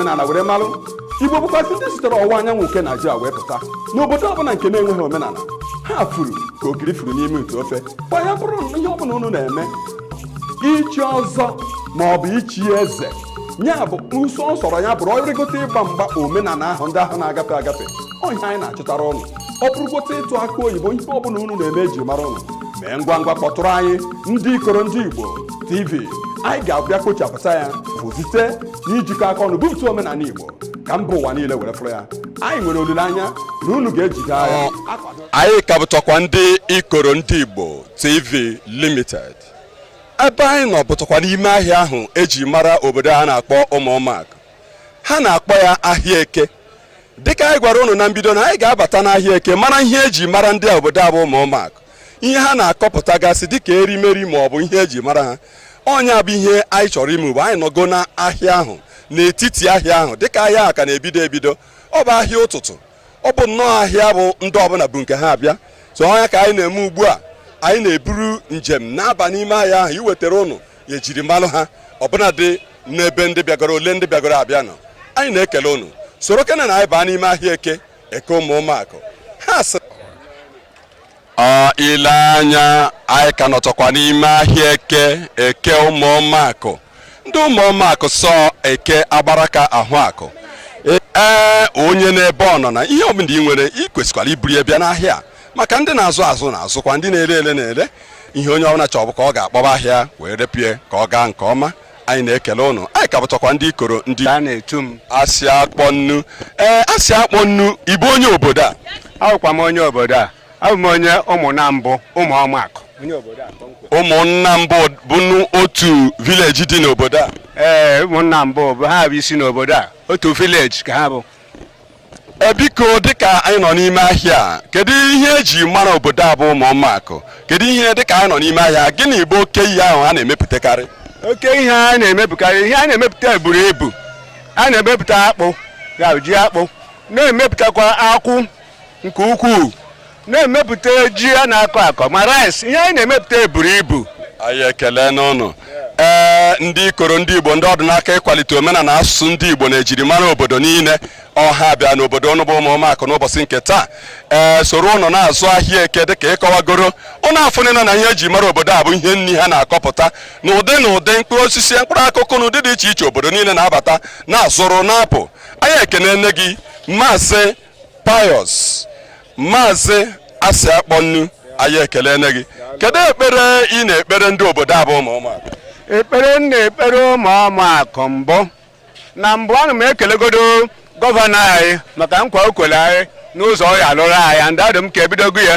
omenala were malụ igbo bụkwasị ndị sitere ọwụwa anyanwụ nke naijiria wee pụta n'obodo ọbụla nke na-enweghị omenala ha furu ka ogiri furu n'ime ite ofe kwa ya bụrụ ihe ọbụla unu na-eme ichi ọzọ ma ọ bụ ichi eze ya bụ ụsọ ọ sọrọ ya bụrụ ọ bụrụgote ịgba mgba omenala ahụ ndị ahụ na-agafe agafe ọ ihe anyị na-achịtara ụnụ ọ bụrụgote ịtụ aka oyibo ihe ọbụla unu na-eme eji mara ụnụ mee ngwa ngwa kpọtụrụ anyị ndị ikoro ndị igbo tv anyị ga-abịa kpochapụta ya bụ site n'ijikọ aka ọnụ bupụta omenala Igbo ka mba ụwa niile were fụrụ ya anyị nwere olileanya na unu ga-ejide ya anyị ka bụtọkwa ndị ikoro ndị Igbo TV Limited ebe anyị nọ bụtọkwa n'ime ahịa ahụ eji mara obodo a na-akpọ ụmụọmakụ ha na-akpọ ya ahịa eke dịka anyị gwara ụnụ na mbido na anyị ga-abata n'ahịa eke mara ihe eji mara ndị obodo a bụ ụmụọmakụ ihe ha na-akọpụtagasị dịka erimeri ma ọ bụ ihe eji mara ha ọ nya bụ ihe anyị chọrọ ime ugbu a anyị nọgo n'ahịa ahụ n'etiti ahịa ahụ dịka ahịa ahụ ka na-ebido ebido ọ bụ ahịa ụtụtụ ọ bụ nnọọ ahịa bụ ndị ọbụla bu nke ha abịa so ọ nya ka anyị na-eme ugbu a anyị na-eburu njem na-aba n'ime ahịa ahụ iwetara ụnụ ejiri malụ ha ọbụla dị n'ebe ndị bịagoro ole ndị bịagoro abịa nọ anyị na-ekele ụnụ sorokene nụ anyị baa n'ime ahịa eke eke ụmụọmakụ ha sị ọ ile anya anyị ka nọtọkwa n'ime ahịa eke eke ụmụọmakụ ndị ụmụọmakụ sọ eke agbaraka ahụ akụ ee onye n'ebe ọ nọ na ihe ọbụla ị nwere ị kwesịkwara iburu ya bịa n'ahịa maka ndị na-azụ azụ na-azụkwa ndị na-ere ere na-ere ihe onye ọbụla chọ bụ ka ọ ga-akpọba ahịa wee repie ka ọ gaa nke ọma anyị na-ekele ụnụ anyị ka bụtọkwa ndị ikoro ndị a na-etu m asị akpọ nnu ee asị akpọ nnu ị bụ onye obodo a abụkwa m onye obodo a abụ m onye ụmụnambụ ụmụọmakụ ụmụnambụ bụ otu village dị n'obodo a ee ụmụnambụ bụ ha bụ isi n'obodo a otu village ka ha bụ E, biko dịka anyị nọ n'ime ahịa a, kedu ihe eji mara obodo a bụ ụmụọmakụ kedu ihe dịka anyị nọ n'ime ahịa gịnị bụ oke ihe ahụ a na-emepụtakarị oke ihe a na-emepụkarị ihe a na-emepụta buru ibu a na-emepụta akpụ ya bụ ji akpụ na-emepụtakwa akwụ nke ukwuu na-emepụta ji a na-akọ akọ ma rice ihe anyị na-emepụta buru ibu anyị ekelene ụnụ ee ndị ikoro ndị igbo ndị ọ dị n'aka ịkwalite omenala na asụsụ ndị igbo na ejirimara obodo niile ọ ha bịa n'obodo ụnụ bụ ụmụọmakụ n'ụbọchị nke taa ee soro ụnụ na-azụ ahịa eke dịka ị kọwagoro ụnụ afụnịna na ihe eji mara obodo a bụ ihe nri ha na-akọpụta na ụdị na ụdị mkpụrụ osisi mkpụrụ akụkụ na ụdị dị iche iche obodo niile na-abata na-azụrụ na-apụ anyị ekenene gị maazị Pius Maazị Asị Akpọnnu anyị ekelene gị kedu ekpere ị na-ekpere ndị obodo a bụ Ụmụọmakụ ekpere m na-ekpere Ụmụọmakụ mbụ na mbụ ana m ekelegodo gọvanọ anyị maka nkwa o kwere anyị n'ụzọ ọ ya-alụrụ anyị and ọ dị m ka e bidogo ya